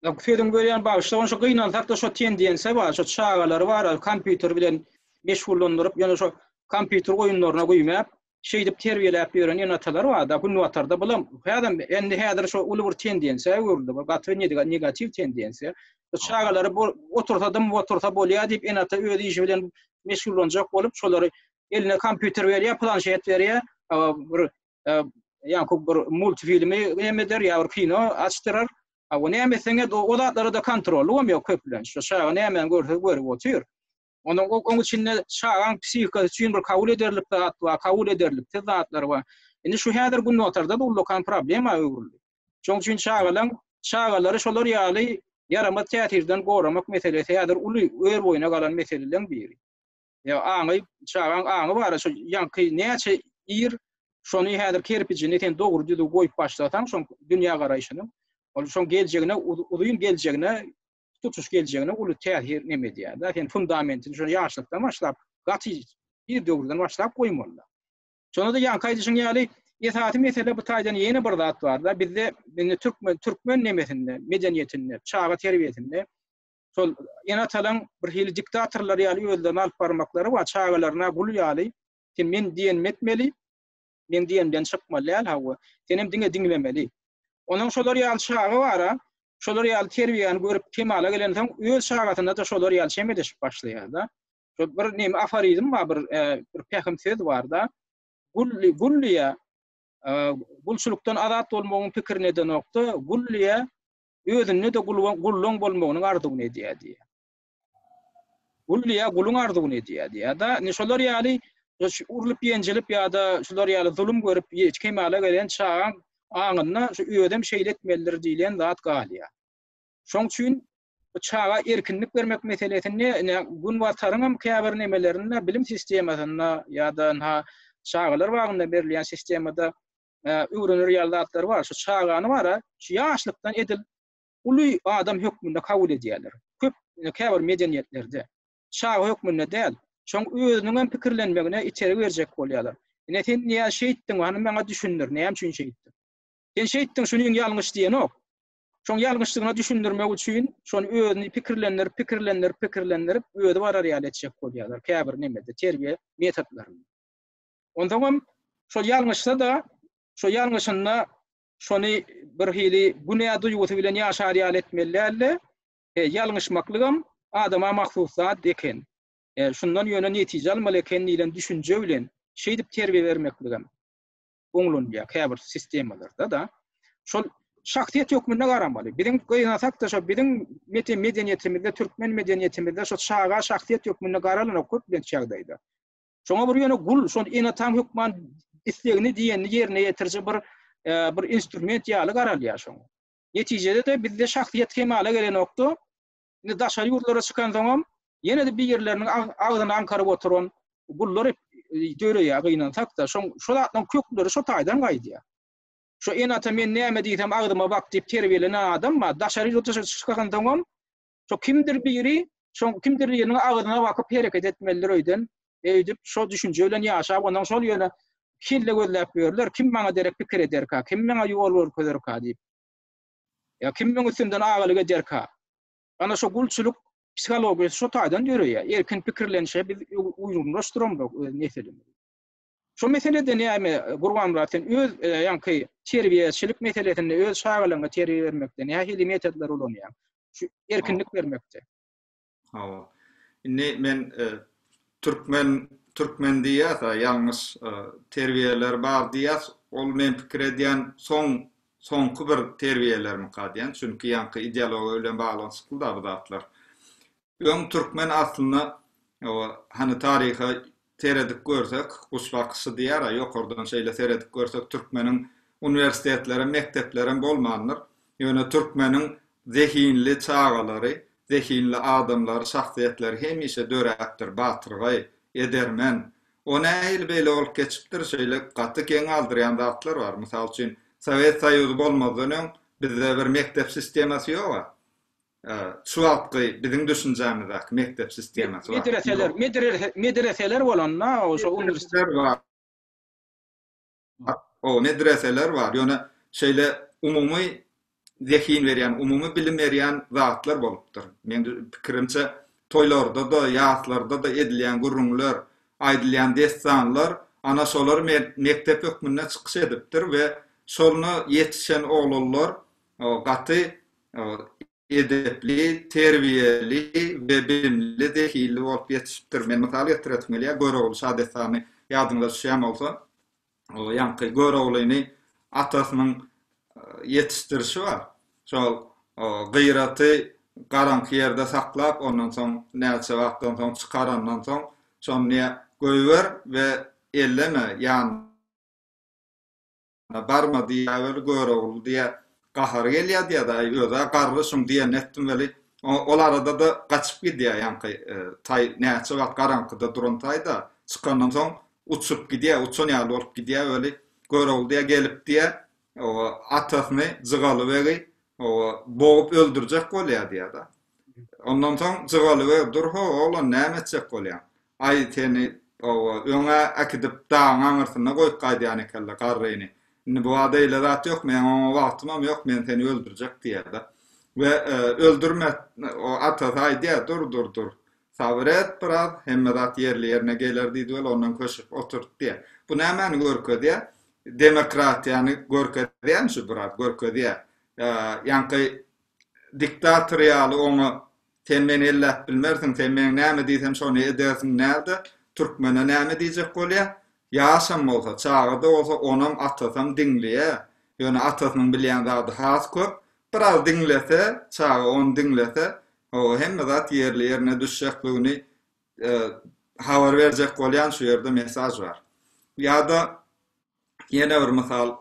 Ýok, sözüňi bölýän, bagyşla. Ony şo gynansak-da şo tendensiýa bar. Şo çagalary bar, kompýuter bilen meşgullandyryp, ýöne şo kompýuter oýunlaryna güýmäp, şeýdip terbiýeläp ýören ene-atalar bar-da, Günbatarda bulam häzem, indi häzir şu uly bir tendensiýa öwrüldi bu, gaty negatiw tendensiýa. Bu çagalary bu otursa dym otursa bolýar diýip, ene-ata öz işi bilen meşgullanjak bolup, şolary eline kompýuter berýär, planşet berýär, bir ýa-da bir multfilmi näme eder, ýa bir kino açdyrar. Näme etseň et, o zatlara-da kontrollugy hem ýok köplenç. Şu çaga nämäni görse görüp otyr. Onuň oň içinde çagaň psihikasy üçin bir kabul ederlik zat bar, kabul ederliksiz zatlar bar. Indi şu häzir günbatarda da ullakan problema öwrüldi. Şoň üçin çagalaň, çagalary şolar ýaly ýaramaz täsirden goramak meselesi häzir uly ör-boýuna galan meseleleň biri. Ýa aňy, çagaň aňy bar, şu ýaňky näçe ir, şony häzir kerpijini sen dogry düzüw goýup başlasaň, şoň dünýägaraýşynyň, ol şoň geljegine, uzyn geljegine tutuş geljegine uly täsir neme edýär. Da sen fundamentini şol ýaşlykdan başlap, gaty bir döwürden başlap goýmaly. Şonda da ýanky aýdyşyň ýaly esasy mesele bu taýdan ýene bir zat bar da bizde indi türkmen türkmen nemesinde, medeniýetinde, çaga terbiýesinde şol enatalan bir hili diktatorlar ýaly özlerini alyp barmaklary we çagalaryna gul ýaly sen men diýen etmeli, Meň diýenimden çykmaly däl hawa. Senem diňe diňlemeli. Onuň şolar ýaly çagy bar-a. Şolar ýaly terbiýäni görüp kemala gelensoň öz çagasyna-da şolar ýaly çemeleşip başlaýar-da. Şol bir näme aforizm bar bir bir pähim söz bar-da. Gully gullyýa gulçulykdan azat bolmagyň pikirini edenokda, gullyýa özünde-de gulluň bolmagynyň arzuwyny edýär diýýär. Gul diýýär, guluň arzuwyny edýär diýýär-de. Indi şolar ýaly urlup-ýenjilip ýa-da şular ýaly zulum görüp kemala gelen çagaň aňynda şu özem şeýle etmelidir diýlen zat galýar. Şoň üçin bu çaga erkinlik bermek meselesinde ine Günbataryň hem käbir nemelerinde bilim sistemasynda ýa-da ynha çagalar bagynda berilýän sistemada öwrenir ýaly zatlar bar. Şu çagany bar-a, şu ýaşlykdan edil uly adam hökmünde kabul edýärler. Köp, käbir medeniýetlerde, çaga hökmünde däl, şoň özüniň hem pikirlenmegine itergi berjek bolýarlar. Ine, sen niä şeýtdiň, hany maňa düşündir, näme üçin şeýtdiň? Sen şeýtdiň, şunyň ýalňyş diýenok. Şoň ýalňyşdygyna düşündirmek üçin, şony özüni pikirlendirip, pikirlendirip, pikirlendirip, özi barar ýaly etjek bolýarlar, käbir nemede, terbiýe metodlarynda. Onsoňam, şol ýalňyşsa-da, şo ýalňyşynda şony bir hili günä duýgusy bilen ýaşar ýaly etmeli däldi. E, ýalňyşmaklygam adama mahsus zat eken. E, şundan ýöne netije almaly eken diýlen düşünje bilen şeýdip terbiýe bermekligem oňlanylýar käbir sistemalarda da. Şol şahsyýet hökmünde garamaly. Biziň gynasak-da şo biziň medeniýetimizde, türkmen medeniýetimizde şo çaga şahsyýet hökmünde garalanok köplenç ýagdaýda. Şoňa bir ýöne gul, şol enataň hökman islegini diýenini ýerine ýetiriji bir e, bir instrument ýaly garalýar şoňa. Netijede-de bizde şahsyýet kemala gelenokdy. Indi daşary ýurtlara çykansoňam, ýene-de bir ýerleriniň agzyny aňkaryp oturan gullar e, döreýär gynansak-da, şoň şol zatlaryň kökleri şo taýdan gaýdýar. Şu enata men näme diýsem agzyma bak diýip terbiýelenen adam bar. Daşary ýurtlara çykansoňam Şo kimdir biri, şo kimdir biriniň agyzyna bakyp hereket etmelidir öýden. Öýdüp, şo düşünje bilen ýaşap, ondan şol ýöne kelle gözläp ýörler, kim maňa derek pikir ederka, kim maňa ýol görkezerka diýip. Ýa kim meň üstümden agalyk ederka. Ana şo gulçulyk psihologiýasy şo taýdan ýöreýär. Erkin pikirlenişe biz uýgunlaşdyramzok öz nesilimizi. Şo meseleden ýagny Gurbanmyrat sen öz ýaňky terbiýeçilik meselesinde öz çagalaryňa terbiýe bermekde nähili metodlary ulanýaň? Şu erkinlik bermekde. Hawa. Indi men türkmen türkmen diýýäs a ýalňyş terbiýeler bar diýýäs. Ol men pikir edýän soň soňky bir terbiýelermika diýýän. Çünki ýaňky ideologiýa bilen baglanyşykly da bu zatlar. Öň türkmen aslynda hany taryha seredip görsek guş bakyşy diýýär-ä ýokardan şeýle seredip görsek türkmeniň uniwersitetlerem mekdeplerem bolmandyr. Ýöne türkmeniň zehinli çagalary, zehinli adamlary, şahsyýetleri hemişe döräpdir, batyrgaý, edermen. O nähili beýle bolup geçipdir şeýle gaty geň galdyrýan zatlar bar. Mysal üçin Sowet Soýuzy bolmazdan öň bizde bir mekdep sistemasy ýog-a. Şu wagtky biziň düşünjämizdäki mekdep sistemasy bar. Medreseler, medreseler bolanda şo uniwersitet bar. Oba medreseler bar, ýöne şeýle umumy zehin berýän, umumy bilim berýän zatlar bolupdyr. Meň pikirimçe, toýlarda-da, ýaslarda-da edilýän gürrüňler, aýdylýan dessanlar ana şolar mekdep hökmünde çykyş edipdir we şolna ýetişen oglanlar gaty edepli, terbiýeli we bilimli, zehinli bolup ýetişipdir. Men mysal getiresim gelýär, Görogly şadessany ýadyňyza düşýän bolsa, ýaňky Göroglyny atasynyň ýetişdirişi bar. Şol gyraty garaňky ýerde saklap, ondan soň näçe wagtdan soň çykarandan soň, şony goýber we elleme, ýanyna. Ýanyna barma diýýä weli Görogly diýýä. Gahary gelýä diýýä-de, Aý, öz-ä garry şuň diýenini etdim weli. Ol arada-da gaçyp gidýä ýaňky taý, näçe wagt garaňkyda duran taý-da, çykandan soň uçup gidýä, uçan ýaly bolup gidýä weli. Görogly diýýä gelip diýýä, oba, atasyny, Jygaly begi, oba, bogup öldürjek bolýa diýýä-de. Ondan soň Jygaly beg, Dur-how, oglan, näme etjek bolýaň? Aý seni oba öňe äkidip dagyň aňyrsyna goýup gaýdýan ekenle garryny. Indi bu bada eýle zat ýok meň oňa wagtymam ýok men seni öldürjek diýýärde. We öldürme o atasy aýdýar dur dur dur sabyr et biraz hemme zat ýerli ýerine geler diýdi we ondan köşek oturtdy diýýär. Bu nämäni görkezýär? Demokratiýany görkezýärmi şu biraz görkezýär. Ýaňky diktator ýaly oňa Sen meni elläp bilmersiň, sen meň näme diýsem şony edersiň närde, türkmene näme diýjek bolýa, ýaşam bolsa, çaga-da bolsa onam, atasam diňleýä, ýöne atasynyň bilýän zady has köp, biraz diňlese, çaga ony diňlese, ho-o hemme zat ýerli-ýerine düşjekligini habar berjek bolýan şu ýerde mesaž bar. Ýa-da Ýene bir mysal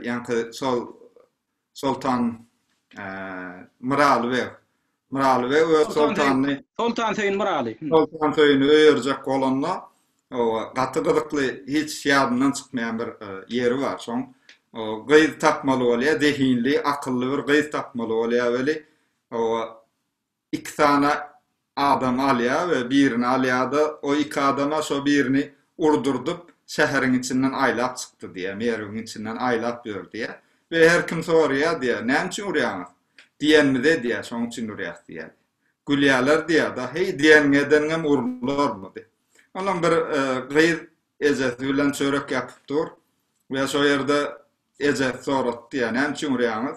ýaňky şol Soltan Myraly beg. Myraly beg öz soltanyny Soltan Söýün Myraly. Soltan Söýüni öýerjek bolanda gaty gyzykly hiç ýadyndan çykmaýan bir ýeri bar. Şoň gyz tapmaly bolýar, zehinli, akylly bir gyz tapmaly bolýar weli iki sany adam alýar we birini alýar-da, o iki adama şo birini urdurdyp, şäheriň içinden aýlap çykdy diýýär, Merwiň içinden aýlap ýör diýýär we her kim soraýar diýýär, Näme üçin urýaňyz? Diýenimize diýýär, şonuň üçin urýas diýýär. Gülýärler diýýär-de, Heý, diýeniňi edeniňem urularmy diýip. Ondan bir gyz ejesi bilen çörek ýapyp dur we şo ýerde ejesi sorapdy diýýär, Näme üçin urýaňyz?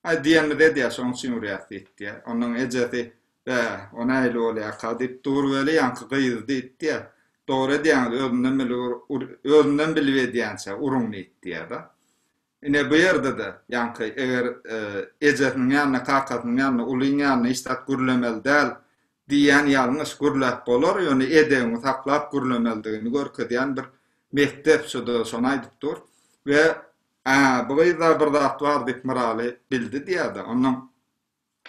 Aý, diýenimizi edýär, şonuň üçin urýas, diýipdi. Onuň ejesi, Bä, o nähili bolýarka? diýip, Dur weli, ýaňky gyz, diýipdi. Dogry edýäňiz, özümden bilip, özümden bilip edýänçä, uruň, diýipdi-de. Ine, bu ýerde-de, ýaňky, eger ejesiniň ýanynda, kakasynyň ýanynda, ulyň ýanynda hiç zat gürlemeli däl, diýýän ýalňyş, gürläp bolar, ýöne edebiňi saklap gürlemelidigini görkezýän bir mekdep, şu-da şony aýdyp dur. We Ä, bu gyzda bir zat bar diýip Myraly bildi diýýär-de, ondan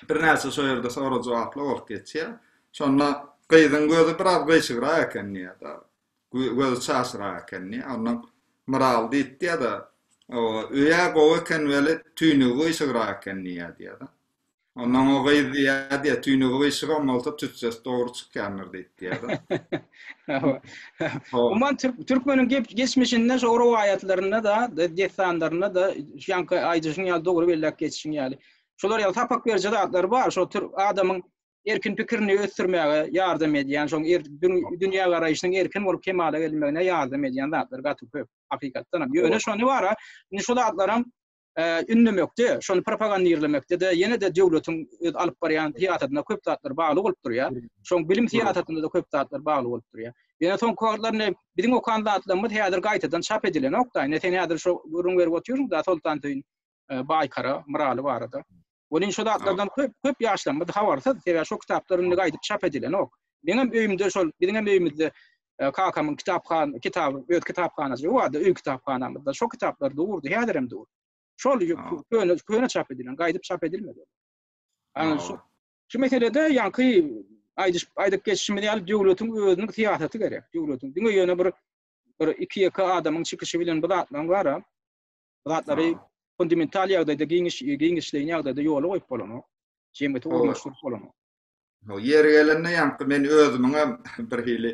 birnäçe şo ýerde sorag-jogaply bolup geçýär. Şonda gyzyň gözi biraz gyşygrak eken diýýär-de, gözi çaşyrak eken diýýär. Ondan Myraly diýip diýýär-de, Oba, öý-ä gowy eken weli, tüýnügi gyşygrak eken diýýär diýýär-de. Onda o gyz diýýär, diýýär, tüýnügi gyşygan bolsa tüssesi dogry çykýandyr diýip diýýär. Umuman türkmeniň geçmişinde şu rowaýatlarynda da, dessanlarynda da şuňky aýdyşyň ýaly dogry belläp geçişiň ýaly. Şolar ýaly sapak beriji zatlar bar, şo türk adamyň erkin pikirini ösdürmäge ýardam edýän, şoň er dünýä garaýşynyň erkin bolup kemala gelmegine ýardam edýän zatlar gaty köp hakykatdanam. Ýöne şony bara, indi şol zatlaram ünnemekde, şony propagandirlemekde-de ýene-de döwletiň öz alyp barýan syýasatyna köp zatlar bagly bolup durýar. Şoň bilim syýasatynda-da köp zatlar bagly bolup durýar. Ýöne soňky wagtlar indi biziň okan zatlarymyz häzir gaýtadan çap edilenok-da. Indi sen häzir şo gürrüň berip otyrsyň-da Soltansöýün, Baýkara, Myraly barada. Welin şo zatlardan köp köp ýaşlarymyz habarsyz. Sebäbi şo kitaplar indi gaýdyp çap edilenok. Meňem öýümde şol biziňem öýümizde e, kakamyň kitaphan kitaby öz kitaphanasy bardy öý kitaphanamyzda şo kitaplar durdy häzir hem dur. Şol köne köne çap edilen gaýdyp çap edilmedi. Ana şu şu meselede ýaňky aýdyş aýdyp geçişimiz ýaly döwletiň özüniň syýasaty gerek. Döwletiň diňe ýöne bir bir iki ýeke adamyň çykyşy bilen bu zatlaryň bara zatlary fundamental ýagdaýda giňiş giňişleýin ýagdaýda ýola goýup bolanok. Jemgyýeti ornaşdyryp bolanok. Ho, ýeri gelende ýaňky men özümiň hem bir hili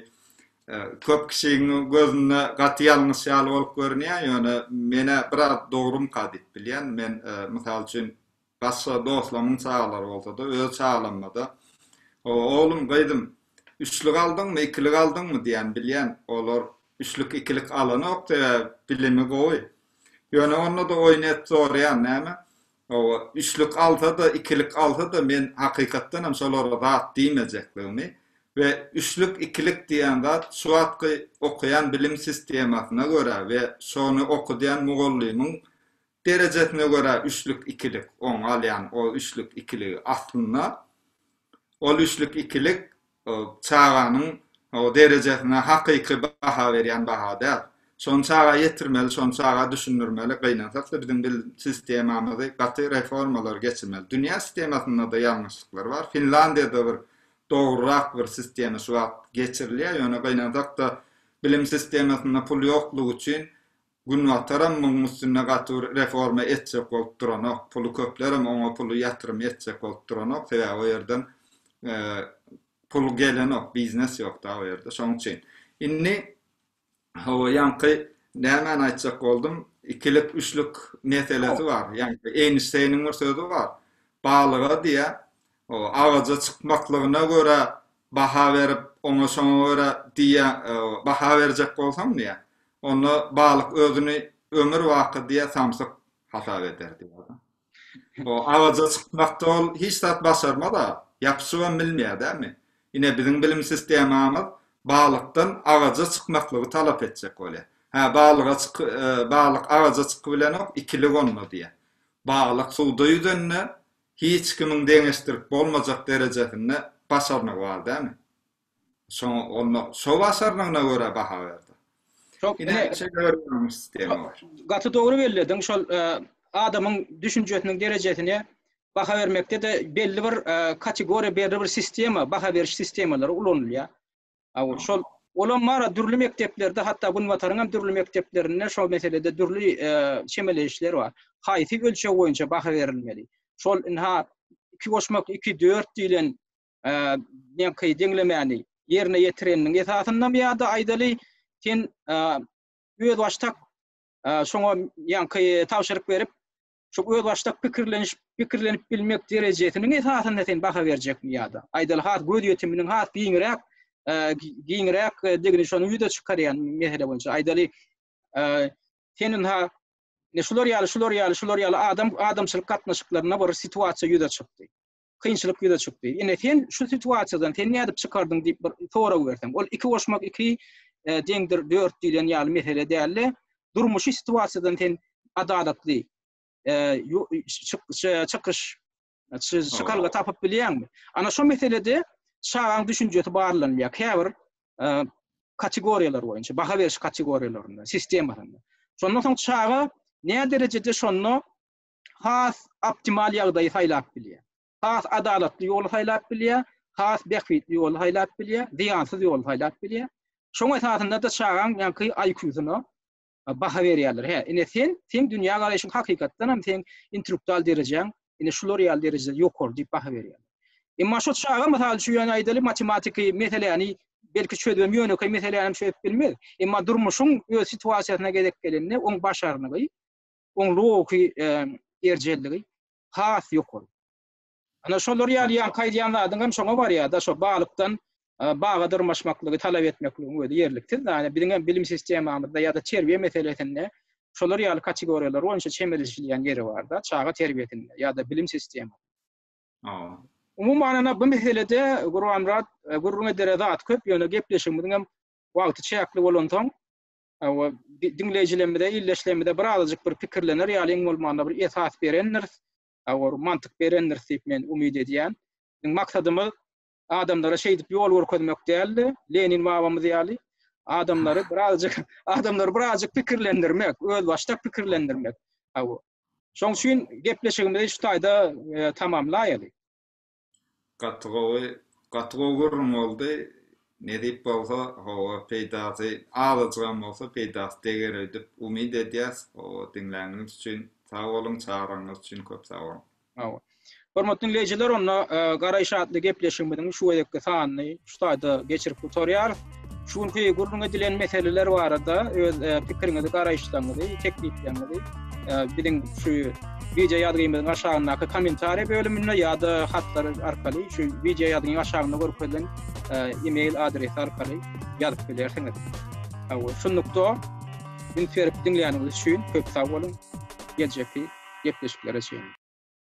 e, köp kişiň gözünde gaty ýalňyş ýaly bolup görünýär, ýöne menä biraz dogrumka diýip bilýän. Men e, mysal üçin Başga doslamyň çagalary bolsa-da, öz çagalamda-da, Hawa, oglum, gyzym, üçlük aldyňmy, ikilik aldyňmy? diýýän. Bilýän, olar üçlük, ikilik alanok, sebäbi bilimi gowy. Ýöne onda-da oýun edip soraýan, Näme? Hawa, üçlük alsa-da, ikilik alsa-da, men hakykatdan hem şolara zat diýmejekdigimi we üçlük, ikilik diýýän zat şu wagtky okaýan bilim sistemasyna görä we şony okadýan mugallymyň Derejesine görä üçlük ikilik oň galýan o üçlük ikiligi aslynda ol üçlük ikilik çaganyň derejesine hakyky baha berýän baha däl. Şony çaga ýetirmeli şony çaga düşündirmeli gynansakda biziň bil sistemamyzy gaty reformalar geçirmeli dünýä sistemasynda-da ýalňyşlyklar bar Finlandiýada bir dogrurak bir sistema şu wagt geçirilýär ýöne gynansakda bilim sistemasynda pul ýoklugy üçin Günbataram muň üstünde gaty bir reforma etjek bolup duranok, puly köplerem oňa puly ýatyrym etjek bolup duranok, sebäbi o ýerden pul gelenok, biznes ýok da o ýerde, şoň üçin. Indi hawa ýaňky nämäni aýtjak boldum, ikilik, üçlük meselesi bar, ýaňky Eýnşteýniň bir sözi bar, balyga diýýär, Agaja çykmaklygyna görä baha berip, oňa şoňa görä diýýä, baha berjek bolsaň diýýä, onda balyk özüni ömür baky diýýä samsyk hasap eder diýýä. O agaja çykmakda ol hiç zat başarmaz-a, ýapyşybam bilmeýär dälmi? Ine biziň bilim sistemamyz balykdan agaja çykmaklygy talap etjek bolýar. Hä balyga çyk, balyk agaja çykybilenok, ikilik onda diýýä. Balyk suwda ýüzende Hiç kimiň deňeşdirip bolmajak derejesinde başarnygy bar dämi? Şoň onda şo başarnygyna görä baha berdi. Şoň Ine ine şeýle bir ýaňyş sistema bar. gaty dogry bellediň. Şol e, adamyň düşünjesiniň derejesine baha bermekde-de belli bir e, kategoriýa, belli bir sistema, baha beriş sistemalary ulanylýar. Awul şol Olam bar, dürli mekdeplerde, hatda Günbataryň hem dürli mekdeplerinde şol meselede dürli çemeleýişler bar. Haýsy ölçeg boýunça baha berilmeli? Şol ynha iki goşmak iki dört diýlen neňki deňlemäni ýerine ýetireniniň esasyndamy ýa-da aýdaly sen özbaşdak şoňa ýaňky tabşyryk berip şu özbaşdak pikirleniş pikirlenip bilmek derejesiniň esasynda sen baha berjekmi ýa-da aýdaly has göz ýetiminiň has giňräk e, giňräk e, degini şony ýüze çykarýan mesele boýunça aýdaly e, senin ha ne şular ýaly şular ýaly şular ýaly adam adamçylyk gatnaşyklarynda bir situasiýa ýüze çykdy. kynçylyk ýüze çykdy. Ine sen şu situasiýadan sen nädip çykardyň diýip bir sorag berseň, ol 2 goşmak 2 e, deňdir 4 diýlen ýaly mesele däldi. Durmuşy situasiýadan sen adalatly e, çykyş çykalga tapyp bilýäňmi? Ana şu meselede çagaň düşünjesi barlanýar. Käbir e, kategoriýalar boýunça, baha beriş kategoriýalarynda, sistemasynda. Şondan soň çaga ne derejede şonda has optimal ýagdaýy saýlap bilýär. Has adalatly ýoly saýlap bilýär, has bähbitli ýoly saýlap bilýär, zyýansyz ýoly saýlap bilýär. Şoň esasynda-da çagaň ýaňky IQ-syna baha berýärler. Hä, ine sen, seň dünýä garaýşyň hakykatdan hem seň intruktal derejäň, ine şular ýaly derejede ýokary diýip baha berýär. Emma şo çaga mysal üçin ýöne aýdaly matematiki meseläni belki çözmem ýönekeý meseläni hem çözüp bilmez. Emma durmuşyň öz situasiýasyna gezek gelende oň başarnygy oň logiki erjelligi has ýokary. Ana şolar ýaly ýaňky aýdýan zadyň hem şoňa barýar-da, şo balykdan baga dyrmaşmaklygy talap etmekligiň özi ýerliksiz zat. Biziň hem bilim sistemamyzda ýa-da terbiýe meselesinde şolar ýaly kategoriýalar boýunça çemeleşilýän ýeri bar-da, çaga terbiýesinde ýa-da bilim sisteminde. Umuman, ana bu meselede Gurbanmyrat gürrüň edere zat köp, ýöne gepleşigimiziň hem wagty çäkli bolansoň, we diňleýjilerimize, ildeşlerimize bir azajyk bir pikirlener ýaly iň bolmanda bir esas berendiris, bir mantyk berendiris diýip men umyt edýän. Biziň maksadymyz adamlara şeýdip ýol görkezmek däl-de, Lenin babamyz ýaly adamlary bir azajyk, adamlary bir azajyk pikirlendirmek, özbaşdak pikirlendirmek. Şoň üçin gepleşigimizi şu taýda tamamlaýaly. Gaty gowy gaty gowy gürrüň boldy. Nesip bolsa hawa peýdasy azajygam bolsa peýdasy deger öýdüp umyt edýäs. Hawa diňläniňiz üçin sag boluň çagyraňyz üçin köp sag boluň. Hawa. Hormatly diňleýjiler onda Garaýyş atly gepleşigimiziň şu gezekki sanyny şu taýda geçirip gutarýarys. Şu günki gürrüň edilen meseleler barada öz e, pikiriňizi, garaýyşlaryňyzy, teklipleriňizi e, biziň şu video ýazgymyzyň aşagyndaky kommentariýa bölüminde ýa-da hatlar arkaly şu video ýazgynyň aşagynda görkezilen e, e-mail adresi arkaly ýazyp bilersiňiz. Hawa, şunlukda üns berip diňläniniz üçin köp sag boluň. Geljekki gepleşiklere çenli.